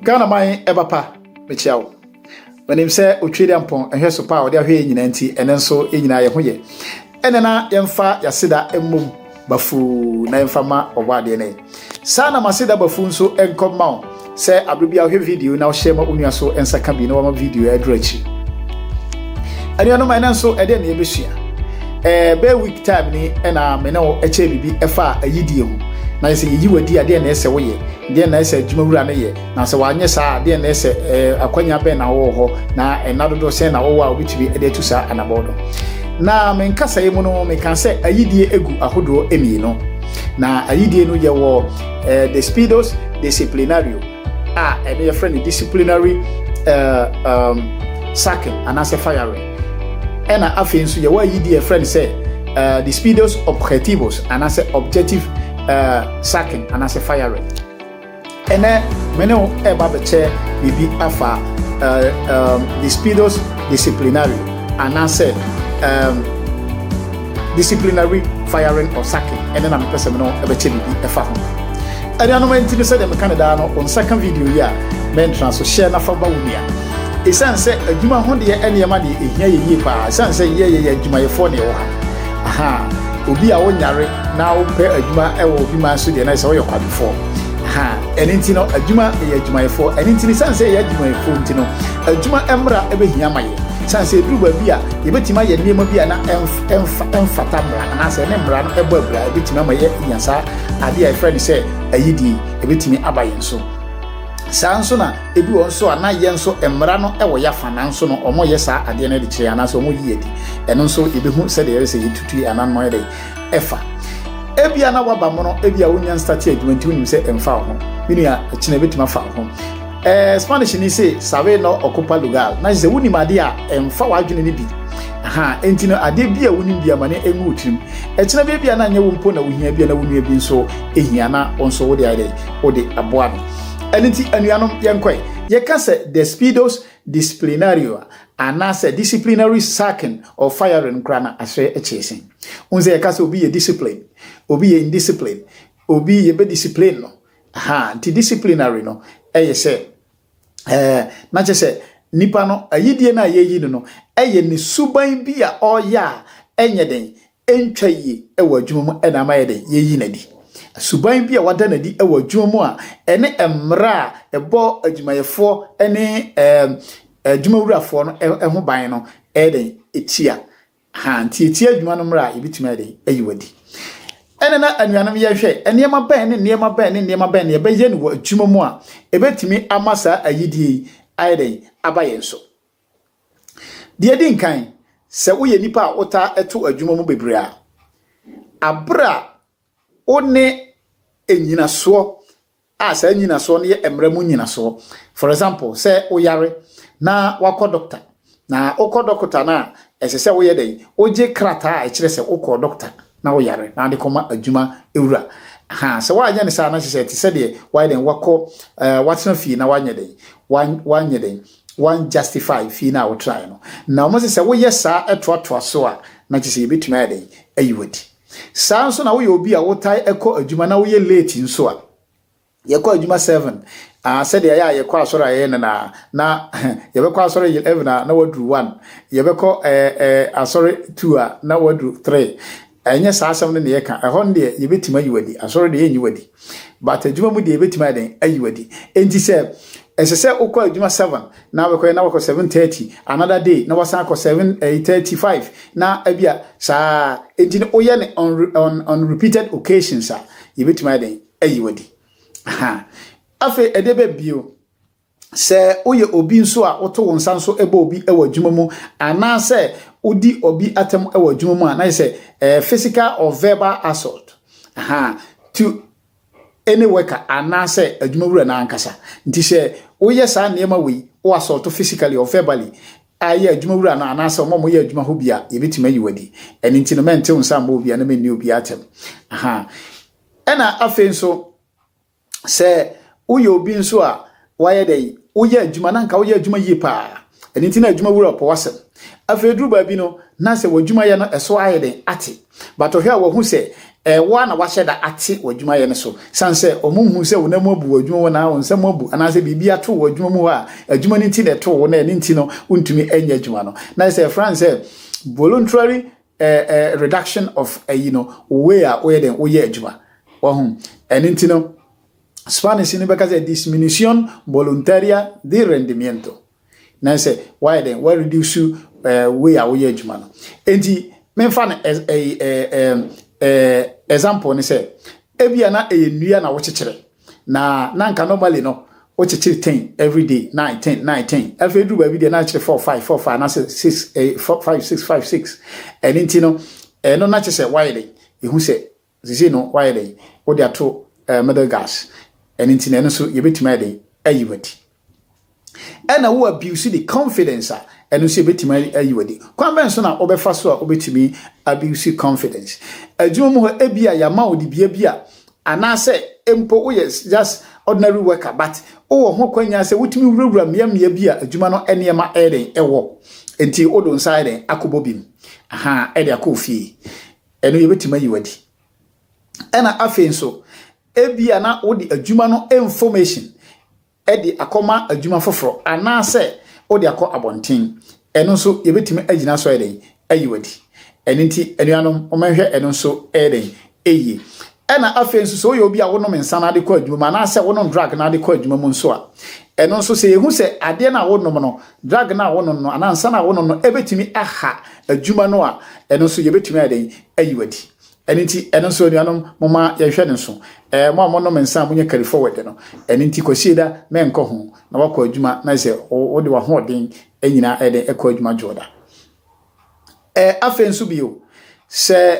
Ghana man ɛba pa mekyia wo menim sɛ otwe de ampɔn ɛhwɛ so pa a ɔde ahwɛ yɛ nyinaa nti ɛnɛ nso yɛ nyinaa yɛ ho yɛ ɛnɛ na yɛmfa yɛaseda mmom bafuu na yɛmfa ma ɔbɔ adeɛ ne Saa na m'aseda ba fuu nso nkɔ mma wo sɛ aberɛ biara wohwɛ video na wohyɛ ma wo nua so nsa ka bi na wama video aduru akyiri. Anuanom ɛnɛ nso ɛdeɛ na yɛbɛsua. Ɛɛ bɛyɛ week time ni ɛna me ne wo ɛkyɛ biribi ɛfa ayidie ho. Na yɛ sɛ yɛyi wadi adeɛ na ɛsɛ woyɛ, deɛ na ɛsɛ adwuma wura no yɛ. Na sɛ wanyɛ saa a, deɛn na ɛsɛ? Akwannya bɛn na wowɔ hɔ, na nna dodoɔ sɛn na wowɔ a wobɛtumi de atu saa anabɔ no? Na me nkasaeɛ mu no, mekaa sɛ ayidie gu ahodoɔ mmienu. Na ayidie no yɛwɔ eh, despidos disciplinario a ɛno yɛfrɛ no disciplinary eh, um, sacking anaasɛ firing ɛna afei nso yɛwɔ ayidi yɛfrɛ no sɛ uh, despidos objetivos anaasɛ objective uh, sacking anaasɛ firing Ɛnnɛ, me ne wo reba abɛkyɛ biribi afa eh, um, despidos disciplinario, anaasɛ um, disciplinary firing or sacking, ɛne na mepɛ sɛ me ne wo bɛkyɛ biribi ɛfa ho. Anuanom nti no sɛdeɛ meka no daa no, wo nsa ka video yi a, mentra so hyɛ na fa ba wo nua. Ɛsiane sɛ adwuma ho deɛ nneɛma deɛ ɛhia yɛ yie paa, ɛsiane sɛ yɛ yɛyɛ adwumayɛfoɔ na ɛwɔ ha. Aha, obi a wonyare na wopɛ adwuma ɛwɔ obi man so deɛ na ɛsɛ woyɛ kwadwofoɔ. ha ɛne nti no adwuma yɛ adwumayɛfoɔ ɛne nti no sane sɛ yɛ adwumayɛfoɔ nti no adwuma mmra ɛbɛhia ma yɛ sane sɛ ɛduru baabi a yɛbɛtumi ayɛ nneɛma bi a na ɛmfata mmara anaasɛ ɛne mmara no ɛbɔ abira ɛbɛtumi ama yɛ nya saa adeɛ a yɛfrɛ no sɛ ayidie ɛbɛtumi aba yɛn so saa nso na ebi wɔn nso a na yɛn nso mmara no wɔ yɛ afa nanso no wɔyɛ saa adeɛ no de kyerɛ anaasɛ wɔyi yɛ di ɛno nso yɛbɛhu sɛdeɛ yɛyɛ sɛ yɛtutu yɛ ananɔ yɛ dɛ ɛfa. Ebia na woaba mono, ebia wonnya nstatee adwuma nti wonim sɛ ɛmfa wo ho. Me nua, ɛkyena ebetumi afa wo ho. Ɛɛ, Spanish ni se, sabe no ocupa lugar, na kyerɛ sɛ wonim adeɛ a ɛmfa w'adwene no bi. Aha, enti no adeɛ bi a wonim bi ama no engu wo tirim. Ɛkyena bi ebia na nyɛ wo mpo na wohia, ebia na wo nua bi nso hia na wo nso wode ayɛ dɛn, wode aboa no. Ɛno nti, anuanom, yɛnkɔe. Yɛka sɛ despidos disciplinario a, anaasɛ disciplinary sacking or firing koraa na aseɛ kyee sen. Wohu sɛ yɛka sɛ obi yɛ discipline, obi yɛ indiscipline, obi yɛbɛ discipline no. Aha, nti disciplinary no ɛyɛ sɛ ɛɛ na kyɛ sɛ nipa no ayidie no a yɛyi no no ɛyɛ ne suban bi a ɔreyɛ a ɛnyɛ den, ɛntwa yie ɛwɔ adwuma mu ɛna ama yɛ den yɛyi no adi. Suban bi a wada no adi ɛwɔ adwuma mu a ɛne mmara a ɛbɔ adwumayɛfoɔ ɛne ɛɛ adwumawurafoɔ no ɛho ban no ɛyɛ den ɛtia. Ha, ntiatia adwuma no mmara a yɛbɛtumi ayɛ dɛn ayi wo adi. Ɛna na anuanom yɛhwɛ nneɛma bɛn ne nneɛma bɛn ne nneɛma bɛn na yɛbɛyɛ no wɔ adwuma mu a ɛbɛtumi ama saa ayidie yi ayɛ dɛn aba yɛn so. Deɛ ɛdi nkan, sɛ woyɛ nipa a wotaa ɛto adwuma mu bebree a, abere a Wo ne nnyinasoɔ a saa nnyinasoɔ no yɛ mmara mu nnyinasoɔ. For example, sɛ wo yare na wakɔ dɔkta na wokɔ dɔkta no a ɛsɛ sɛ woyɛ dɛn? Wogye krataa a ɛkyerɛ sɛ wokɔɔ dɔkta na wo yare na wode kɔma adwuma wura. Ha, sɛ woanyɛ ne saa na kyerɛ sɛ ɛte sɛ deɛ wayɛ dɛn? Wakɔ, uh, watena fie na wanyɛ dɛn? Wan, wanyɛ dɛn? Wan justify fie no a wotraeɛ no. Na wɔn sɛ sɛ woyɛ saa ɛtoatoa so a na kyerɛ sɛ yɛbɛtumi ayɛ dɛn? Ayi wadi. Saa ara nso na woyɛ obi a wotae kɔ adwuma na woyɛ late nso a, yɛkɔ adwuma seven, ah, sɛdeɛ ɛyɛ a yɛkɔ asɔre a yɛyɛ no na, na yɛbɛkɔ asɔre eleven a na waduru one, yɛbɛkɔ eh, eh, asɔre two a na waduru three. Ɛnyɛ saa asɛm no na yɛka. Ɛhɔ no deɛ yɛbɛtumi ayi wadi, asɔre deɛ yɛnyi wadi, but adwuma mu deɛ yɛbɛtumi ayɛ dɛn ayi wadi. Enti sɛ ɛsɛ sɛ wokɔ adwuma seven na bɛkɔyɛ na wakɔ seven thirty another day na wasan akɔ seven ɛyi eh, thirty five na ebi a saa eti no oyɛ no on on on repeated occasions a yɛbɛtumi ayɛ dɛn ayi wadi afei ɛde bɛ bio sɛ woyɛ obi nso a woto wo nsa nso bɔ obi wɔ adwuma mu anaasɛ wodi obi atam wɔ adwuma mu a na yɛ sɛ eh, physical or verbal assault to ne worker anaasɛ adwumawura no ankasa. Nti sɛ woyɛ saa nneɛma wei, wo assault physically or verbally, a ɛyɛ adwumawura no anaasɛ wɔn a wɔyɛ adwuma hɔ bi a, yɛbɛtumi ayi wo adi. Ɛno nti no, mɛntew nsa mmɔ obiara na menni obiara atɛm. Aha. Ɛna afei nso, sɛ woyɛ obi nso a Woayɛ dɛn? Woyɛ adwuma, na anka woyɛ adwuma yie pa ara. Ɛno nti na adwuma wura pɛ w'asɛm. Afei duru baabi no, na sɛ w'adwumayɛ no so ayɛ den ate. But ɔhwɛ a wahu sɛ ɛyɛ wo ara na woahyɛ da ate w'adwumayɛ no so. Ɛsiane sɛ wɔnhuu sɛ wo nan mu abu wo adwuma mu anaa wo nsam abu anaasɛ biribi ato wo adwuma mu hɔ a adwuma no nti na ɛtoo wo na ɛno nti no wontumi nyɛ adwuma no. Na ayɛ sɛ yɛfrɛ no sɛ voluntary reduction of ayi no, wo way a woyɛ dɛn? Woyɛ adwuma. Wahu? Ɛno nti no. Spanish no bɛka sɛ disminución voluntaria de rendimiento. Na sɛ wayɛ dɛn wa reduce eh, wei a woyɛ adwuma no. Enti memfa no as a eh, eh, eh, example ne sɛ ebia na ɛyɛ nnua na wokyekyere na na nka normally no wokyekyere ten every day nine ten nine ten afei duru baabi deɛ na akyerɛ four five four five anaasɛ six eh, four five six five six ɛno nti no ɛno na kyerɛ sɛ wayɛ dɛn ehu sɛ Seesei no, woayɛ dɛn? Wode ato ɛɛ middle gas. Ɛno nti no, ɛno nso yɛbɛtumi ayɛ dɛn? Ayi wo adi. Ɛna wo abuse the confidence a, ɛno nso yɛbɛtumi ayi wo adi. Kwan bɛn so na wobɛfa so a wobɛtumi abuse confidence? Adwuma mu hɔ, ebia yɛama wo dibea bi a, anaasɛ mpo woyɛ just ordinary worker but wowɔ ho kwanya sɛ wotumi wurawura mmeammea bi a adwuma no nneɛma ɛyɛ dɛn ɛwɔ. Nti wode wo nsa ayɛ dɛn akɔbɔ bi mu. Aha, ɛde akɔ ofie. Ɛno yɛbɛtumi ayi wo adi. Ɛna afei nso, ebia na wode adwuma no information de akɔma adwuma foforɔ anaasɛ wode akɔ abɔnten. Ɛno nso yɛbɛtumi agyina so ayɛ dɛn? Ayi wo adi. Ɛno nti anuanom, mommɛhwɛ ɛno nso ɛyɛ dɛn? Ɛyie. Ɛna afei nso sɛ woyɛ obi a wonom nsa na ade kɔ adwuma mu anaasɛ wonom drug na ade kɔ adwuma mu nso a, ɛno nso sɛ yɛhu sɛ adeɛ no a wonom no, drug no a wonom no anaa nsa no a wonom no ɛbɛtumi aha adwuma no a, ɛno nso yɛbɛtumi ayɛ dɛn ayi wadi. Ɛno nti ɛno nso anuanom moma yɛnhwɛ no nso. Ɛɛ mo a monom nsa a monyɛ carry forward no, ɛno nti Kwasieda mɛnkɔ ho na wakɔ adwuma na sɛ wode w'ahoɔden nyinaa ɛdɛn ɛkɔ adwuma Dwoda. Ɛɛ afei nso bio sɛ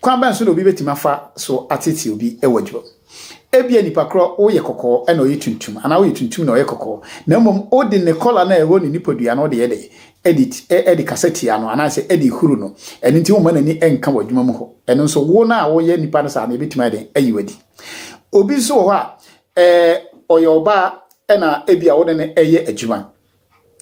Kwan bɛn so na obi betumi afa so ateetee obi wɔ adwumam? Ebia nipa korɔ woyɛ kɔkɔɔ na ɔyɛ tuntum, anaa woyɛ tuntum na ɔyɛ kɔkɔɔ, na mmom wode ne kɔla no a ɛwɔ ne nipadua no wode yɛ dɛn? De kasa tia no anaasɛ de huru no. Ɛno nti womma n'ani nka wɔ adwuma mu hɔ. Ɛno nso, wo no a woyɛ nipa no saa no, ebetumi ayɛ dɛn? Ayi wo adi. Obi nso wɔ hɔ a, ɔyɛ ɔbaa na ebia wo ne no reyɛ adwuma.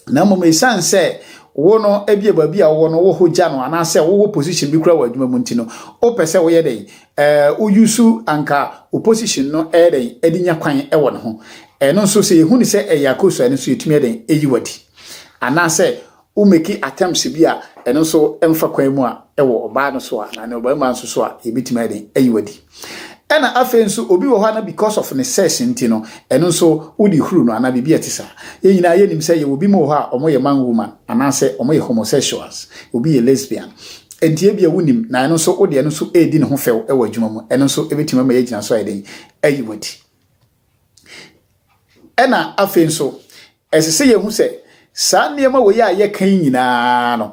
na mmom esiane sɛ wo no ebia baabi a wowɔ no wɔ hɔ gya no anaasɛ wowɔ position bi kura wɔ adwuma mu nti no wopɛ sɛ woyɛ dɛn ɛɛ woyi so anka wo position no ɛyɛ dɛn ɛde nya kwan ɛwɔ ne ho ɛno nso sɛ yɛhu ne sɛ ɛyɛ akoso ɛno nso yɛtumi ɛdɛn ɛyi wadi anaasɛ wo meki attempts bi a ɛno nso ɛmfa kwan mu a ɛwɔ ɔbaa no so a na ne ɔbarima nso so a yɛbɛtumi ɛdɛn ɛyi wadi Ɛna afei nso obi wɔ hɔ a na because of ne sex nti no, ɛno nso wode huru no anaa biribi a ɛte saa. Yɛn nyinaa yɛnim sɛ yɛwɔ binom wɔ hɔ a wɔyɛ man woman anaasɛ wɔyɛ homosexuals, obi yɛ lesbian. Enti ebia wonim, na ɛno nso wode ɛno nso redi ne ho fɛw wɔ adwuma mu. Ɛno nso ɛbɛtumi ama yɛagyina so ayɛ dɛn? Ayi w'adi. Ɛna afei nso, ɛsɛ sɛ yɛhu sɛ saa nneɛma wei a yɛka yi nyinaa no,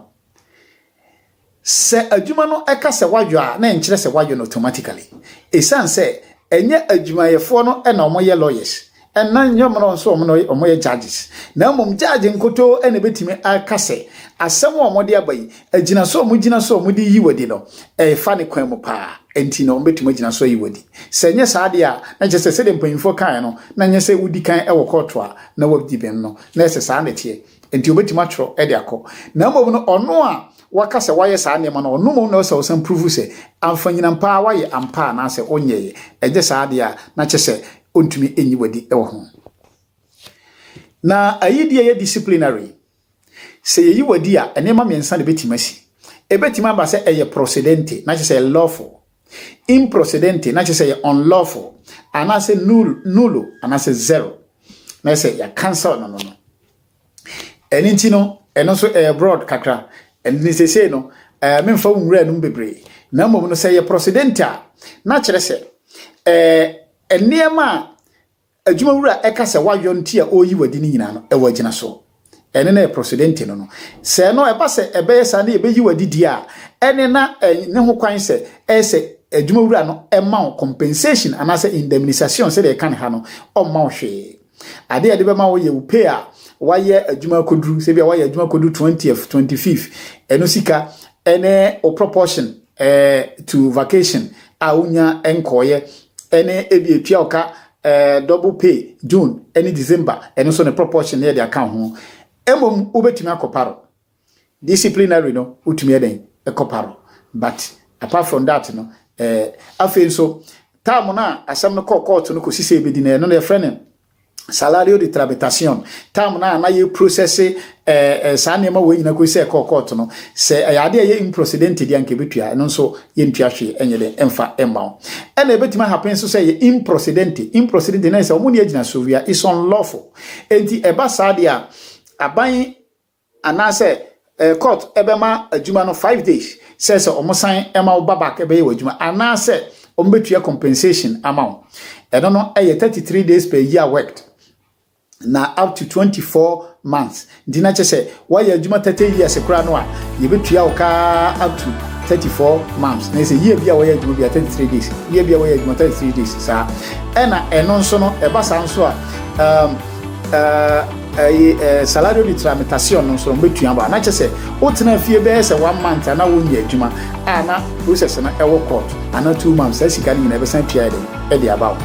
Sɛ adwuma no ka sɛ wɔayɔ a, na ɛnkyerɛ sɛ wɔayɔ no automatically. Esiane sɛ ɛnyɛ adwumayɛfoɔ no na wɔyɛ lawyers, na ɛnyɛ wɔn nso na wɔyɛ judges, na mmom judge nkotoo na ɛbɛtumi aka sɛ asɛm a wɔde aba yi, agyina so a wɔgyina so a wɔde reyi wadi no, ɛfa ne kwan mu paa, enti na wɔbɛtumi agyina so ayi wadi. Sɛ ɛnyɛ saa deɛ a, na kyerɛ sɛ sɛdeɛ mpanyimfoɔ kaeɛ no, na ɛnyɛ sɛ wodi kan wɔ kɔɔto a na wɔadi bem no, na ɛsɛ saa na ɛteɛ. Enti obetumi atwerɛ de akɔ. Na mmom no, ɔno a waka sɛ wayɛ saa nneɛma no, ɔno mmom na ɛwɔ sɛ ɔsan pruvu sɛ amfanyinam pa ara wayɛ ampa anaasɛ ɔnyɛeɛ. Anyɛ saa deɛ a, na kyerɛ sɛ ɔntumi nyi wadi wɔ ho. Na ayi deɛ yɛ disciplinary. Sɛ yɛyi wadi a, nneɛma mmiɛnsa na ɛbɛtumi asi. Ɛbɛtumi aba sɛ ɛyɛ procedente, na kyerɛ sɛ ɛyɛ lawful. Improcedente, na kyerɛ sɛ yɛ unlawful, anaasɛ nul, nulo, anaasɛ zero, na kyerɛ sɛ yɛ cancel no no no. Ɛno nti no, ɛno nso ɛyɛ broad kakra. Ɛno ne sesei no, ɛɛ memfa wo nwura nom bebree. Na mmom no sɛ yɛ procedente a, na kyerɛ sɛ ɛɛ nneɛma a Adwumawura ɛka sɛ wayɔ nti a ɔreyi w'adi no nyinaa no, ɛwɔ agyina soɔ. Ɛne na yɛ prosodente no no. Sɛ no ɛba sɛ ɛbɛyɛ saa na yɛbɛyi w'adi deɛ a, ɛne na ɛne ho kwan sɛ ɛyɛ sɛ adwumawura no ɛma wo compensation anaasɛ indemnisation sɛdeɛ yɛka no ha no, ɔmma wo hwee. Adeɛ a ɛde bɛma wo yɛ wo pay a wayɛ adwuma akɔduru, sɛ bia wayɛ adwuma akɔduru twentieth, twenty fifth, ɛno sika ɛne wo proportion eh, to vacation a wonya nkɔɔeɛ ɛne ebi etua ɔka ɛɛ double pay June ɛne December ɛno nso ne proportion ne ɛde aka ho ɛmom wobɛtumi akɔ paro disciplinary no wotumi ɛdɛn ɛkɔ paro but apart from that no ɛɛ afei nso time no a asɛm no kɔɔ kɔɔto no kɔsi sɛ ebɛdi no ɛno no yɛfrɛ no salario de tramitación, time no a na yɛ process eh, eh, saa nneɛma wɔ nyina kɔsi sɛ ɛkɔɔ court no sɛ ɛyɛ ade a ɛyɛ improcedente deɛ anka ɛbɛtua ɛno nso yɛntua hwee ɛnyɛ dɛ ɛmfa ɛmma wo ɛna ɛbɛtumi ahapen nso sɛ ɛyɛ improcedente improcedente na ɛsɛ wɔn ne agyina so wia is unlawful enti ɛba saa deɛ a aban Anaasɛ eh court ɛbɛma adwuma no five days sɛ sɛ ɔmo san ɛma wo ba back ɛbɛyɛ w'adwuma anaasɛ ɔmo bɛtua compensation ama wo ɛno no ɛyɛ thirty three days per year worked na up to twenty four months nti na kyɛ sɛ woayɛ adwuma thirty years koraa no a yɛbɛtua wo kaa up to thirty four months na ɛsɛ year bi a wɔyɛ adwuma bi a thirty three days year bi a wɔyɛ adwuma thirty three days saa ɛna ɛno nso no ɛba saa nso a um, Eh, ɛyi eh, eh, salado de tramitacion no nso wɔn bɛtua ba na kyɛ sɛ wotena fie bɛyɛ sɛ one month ana wonyɛ adwuma a na process no ɛwɔ court ana two months saa sika no nyinaa ɛbɛsan tua de ɛde aba wo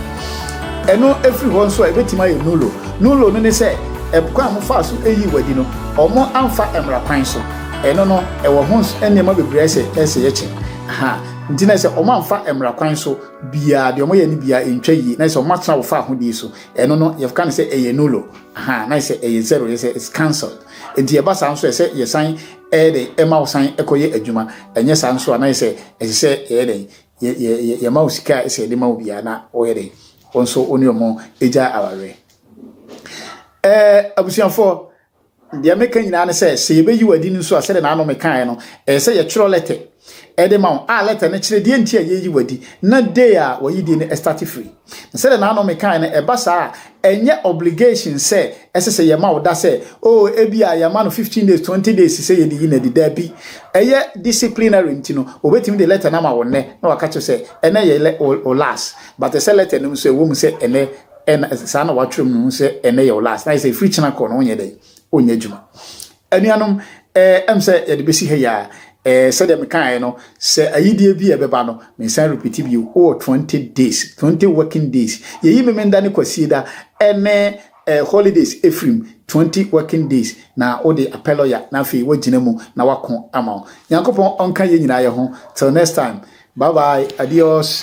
ɛno ɛfiri hɔ nso a ɛbɛtumi ayɛ nulo nulo no ne sɛ ɛkwan a mofaa so ɛyi wadi no ɔmo amfa mmara kwan so ɛno no ɛwɔ ho nneɛma bebree sɛ ɛsɛ yɛkyɛ ha nti na sɛ ɔmo amfa mmara kwan so biara deɛ ɔmo yɛ no biara ntwa yie na sɛ ɔmo atena wo fa ahodie so ɛno no yɛka no sɛ ɛyɛ nulo aha na sɛ ɛyɛ zero yɛ sɛ it's cancelled nti ɛba saa nso ɛsɛ yɛsan ɛyɛ dɛ ɛma wo san ɛkɔyɛ adwuma ɛnyɛ saa nso a na sɛ ɛsɛ sɛ ɛyɛ dɛ yɛ yɛ yɛma wo sika a ɛsɛ yɛde ma wo biara na ɔyɛ dɛ wɔn nso wɔn ne wɔn agya awareɛ ɛɛ abusuafoɔ Deɛ meka nyinaa ne sɛ, sɛ yɛbɛyi wo adi no nso a, sɛdeɛ n'ano mekaeɛ no, ɛyɛ sɛ yɛtwerɛ lɛtɛ de ma wo, a lɛtɛ no kyerɛ deɛ nti a yɛreyi wo adi, na day a w'ayidie no starte firi. Na sɛdeɛ n'ano mekaeɛ no, ɛba saa a, ɛnyɛ obligation sɛ ɛsɛ sɛ yɛma wo da sɛ, oh, ebia yɛama no fifteen days, twenty days sɛ yɛde yi no adi. Dabi. Ɛyɛ disciplinary nti no, wɔbɛtumi de lɛtɛ no ama wo nnɛ, na wɔaka kyerɛ wo sɛ, ɛnnɛ yɛ wo last. But ɛsɛ sɛ lɛtɛ no nso, ɛwɔ mu sɛ ɛnnɛ, ɛna saa na watwerɛ mu no sɛ ɛnɛ yɛ wo last na sɛ ɛfiri kyena kɔ no wonyɛ dɛn onyɛ adwuma anuanom ɛm sɛ yɛde bɛsi ha yi a sɛdeɛ mekaeɛ no sɛ ayideɛ bi a ɛbɛba no mensan repeat bio wowɔ 20 days 20 working days yɛyi memenda ne kwasie da ɛne holidays ɛfirim 20 working days na wode apɛ lɔya na afei woagyina mu na wako ama wo nyankopɔn ɔnka yɛ nyinaa yɛ ho till next time bye bye adios